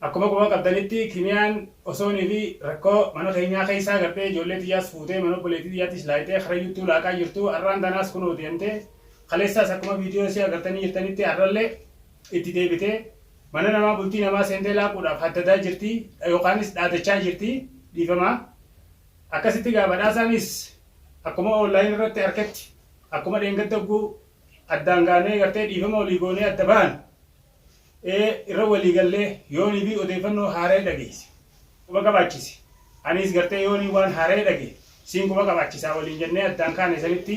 Akkuma quba qabdanitti Kimiyaan osoonii fi rakkoo mana keenyaa keessaa gabbee ijoollee tiyyaas fuutee mana obboleettii tiyyaattis laayxee karayyuuttuu laaqaa jirtu arraan tanaas kunoo deemtee kaleessaas akkuma viidiyoo isii agartanii jirtanitti arrallee itti deebitee mana namaa bultii namaa seentee laaquudhaaf haddadaa jirti yookaanis dhaadachaa jirti dhiifama akkasitti gaa badhaasaanis akkuma online irratti arketti akkuma dheengadda ogguu addaan gaanee gartee dhiifama olii goonee adda bahan e irra walii gallee yoonii fi odeeffannoo haaraya dhageesse quba qabaachisi aniis gartee yoonii waan haaraya dhage siin quba qabaachisaa waliin jennee addaan kaane sanitti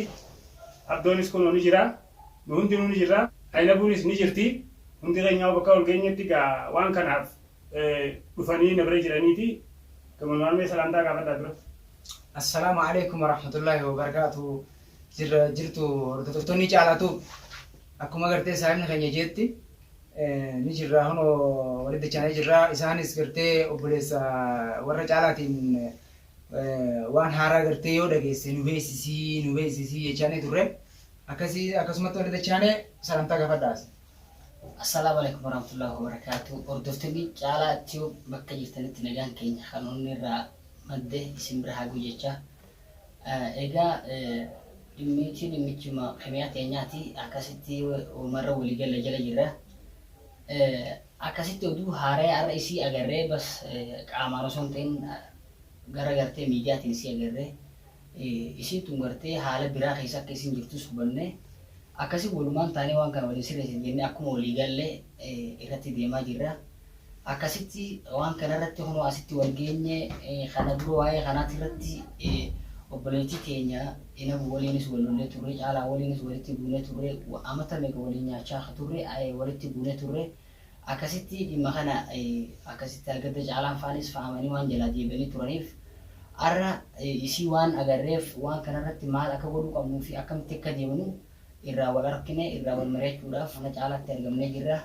abdoonis kunoo ni jira nu hundinuu ni jirra aynabuunis ni jirti hundi keenyaa'uu bakka wal geenyetti gaa waan kanaaf dhufanii na bira jiraniiti gamanumaan mee salaamtaa gaafadhaa dura. Assalaamu Aleeykum Warahmatullaahi Wabarakaatuhu. jirra jirtu hordoftoonni caalaatu akkuma gartee saahibni keenya jeetti ni jirra hono walitti dachaanee jirra isaanis gartee obboleessa warra caalaatiin waan haaraa gartee yoo dhageesse nu beeksisii nu beeksisii jechaanii turre akkasii akkasumatti walitti dachaanee salamtaa gafadhaas. Assalaamu alaikum warahmatullahi wabarakatuh. Hordoftoonni caalaa tiyuub bakka jirtanitti nagaan keenya kan onnee irraa madde isin bira haa guyyacha. Egaa dhimmiichi dhimmichuma Kimiyaa teenyaati akkasitti uumarra walii galla jala jirra. Akkasitti oduu haaraya har'a isii agarree bas qaamaan osoo hin ta'in gara gartee miidiyaatiin isii agarree isiin tun gartee haala biraa keessa akka isiin jirtus hubanne akkasi walumaan taanee waan kana waliin sirreessina jennee akkuma walii galle irratti deemaa jirra. Akkasitti waan kana irratti kunoo asitti wal geenye. Kana dura waa'ee kanaati irratti obboleettii teenya Inabu waliinis wal lollee turre, Caalaa waliinis walitti buunee turre, amata meeqa waliin nyaachaa akka turre walitti buunee turre. Akkasitti dhimma kana akkasitti argadde Caalaan faanis fa'amanii waan jalaa deebi'anii turaniif har'a isii waan agarreef waan kana irratti maal akka godhuu qabnuu fi akkamitti akka deemnu irraa wal argine irraa wal mari'achuudhaaf mana Caalaatti argamnee jirra.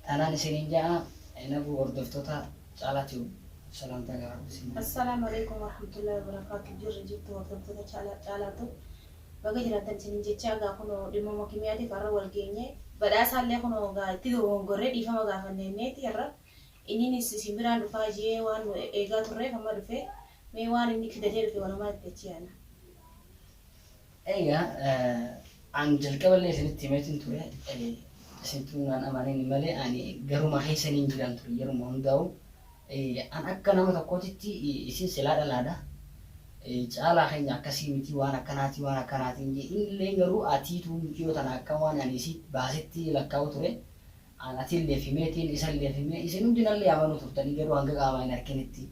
Tanaan isiniin ja'a Enabuu hordoftoota Caalaa Tube salaamtaa garaa koo isin ja'a. Assalaamu Aleeykum Warahmatullahi Wabarakaatu Jirra jirtu hordoftoota Chala Caalaa Tube baga jiraattan isiniin jechaa egaa kunoo dhimmuma kimiyaatiif har'a wal geenye badhaasaallee kunoo egaa itti dogongorree dhiifama gaafanneemmeeti har'a inninis isin biraan dhufaa jee waan nu eegaa turreef amma dhufee Mee waan inni kidatee dhufe wanumaa itti achii ana. Egaa an jalqaba illee isinitti himeetiin ture isintuu naan amanin malee ani garuma keessa niin jiran ture yeruma hundaa'u an akka nama tokkootitti isin silaa dhalaadha caalaa keenya akkasii miti waan akkanaatii waan akkanaatiin jee inni illee garuu atiituu muciyoo tana akka waan ani isii baasetti lakkaa'u ture An atilleef himee, tiin isalleef himee, isin hundi nallee amanuu turtanii garuu hanga qaamaa hin arkinitti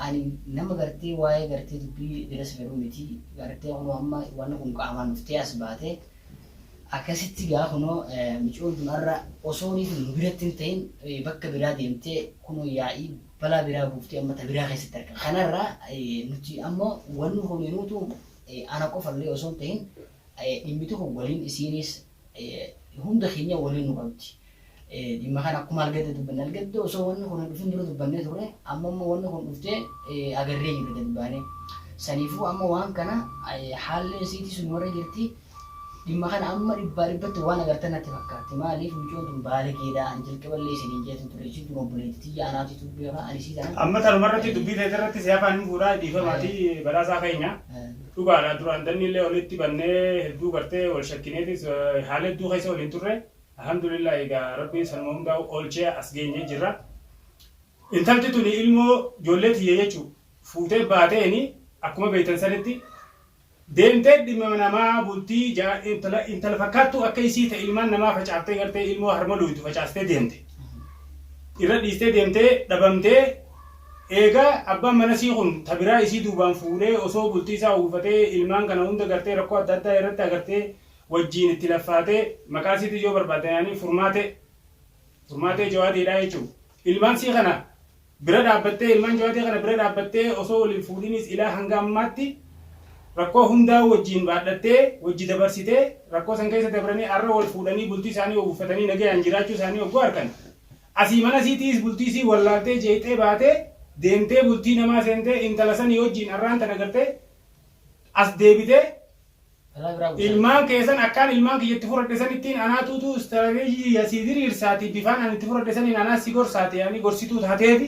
ani nama gartee waa'ee gartee dubbii biras galu miti gartee kunoo amma wanni kun qaamaan dhuftee as baate akkasitti gaa kunoo micoon tun har'a osoo niitu nu biratti hin ta'in bakka biraa deemtee kunoo yaa'ii balaa biraa buuftee amma ta biraa keessatti argama kanarraa nuti ammoo wanni kun nuutu ana qofallee osoo hin ta'in dhimmiti kun waliin isiiniis hunda keenya waliin nu qabdi. Dhimma kana akkuma argadde dubbanne argadde osoo wanni kun dhufin dura dubbannee turre amma immoo wanni kun dhuftee agarree jirra gadi baanee. Saniifuu amma waan kana haalli isiitii sun warra jirti dhimma kana amma dhibbaa dhibbatti waan agartan natti fakkaatti maaliif mucoon tun baalageedha an jalqaballee isiniin jeetu ture isiin tun obboleetti tiyya anaatu tun beeka ani isii tana. Amma tanumarratti dubbii teetirratti si afaan hin fuudhaa dhiifamaatii badhaasaa keenya. Dhugaadha duraan danniillee olitti bannee hedduu gartee wal shakkineetis haala hedduu keessa waliin turre. Alhamdulillah egaa rabbiin sanuma hundaa'u oolchee as geenyee jirra. Intalti tuni ilmoo ijoollee tiyya jechuu fuutee baateeni akkuma beektan sanitti deemtee dhimma namaa bultii jaa intala intala fakkaattuu akka isii ta ilmaan namaa facaaftee gartee ilmoo harma looytu facaastee deemte. Irra dhiistee deemtee dhabamtee Eegaa abbaan manasii kun ta biraa isii duubaan fuudhee osoo bultii isaa uwwifatee ilmaan kana hunda gartee rakkoo adda addaa irratti agartee wajjiin itti laffaatee maqaa isiitis yoo barbaaddan yaanii furmaatee furmaatee jawaadee dhaa jechuun ilmaan isii kana bira dhaabbattee ilmaan jawaadee kana bira dhaabbattee osoo wal hin fuudhiniis ilaa hanga ammaatti rakkoo hundaa'uu wajjiin baadhattee wajji dabarsitee rakkoo san keessa dabranii arra wal fuudhanii bultii isaanii uwwifatanii nagayaan jiraachuu isaanii ogguu arkan Asii mana isii tiis bultii isii wallaaltee jeeqxee baatee deemtee bultii namaa seentee intala sanii wajjiin arraan tana gartee as deebitee ilmaan kee san akkaan ilmaan kiyya itti furadhe sanittiin anaa tuutuu istarateejii tiyya sii diriirsaati bifaan ani itti furadhe saniin anaa si gorsaati yaanii gorsituu taateeti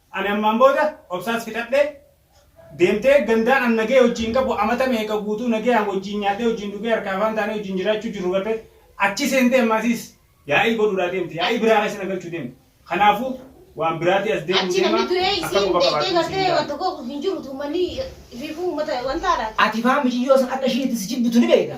Ani ammaan booda obsaas fixadhee deemtee gandaan an nagaya wajjiin qabu amata meeqa guutuu nagayaan wajjiin nyaadhee wajjiin dhugee harkaa afaan taanee wajjiin jiraachuu jirru garte achi seentee ammaa isiis yaa'ii godhuudhaa deemti yaa'ii biraa keessa na galchuu deemti kanaafuu waan biraatii as deemuun Achi namni deemaa du'ee akka isiin quba deettee qabaattu isiin gartee waan gaafadha. tokko hin jiru uummanni ifiifuu uummata waan taadhaati. Ati faan miciyyoo san akka ishiin itti si jibbitu ni beeyta.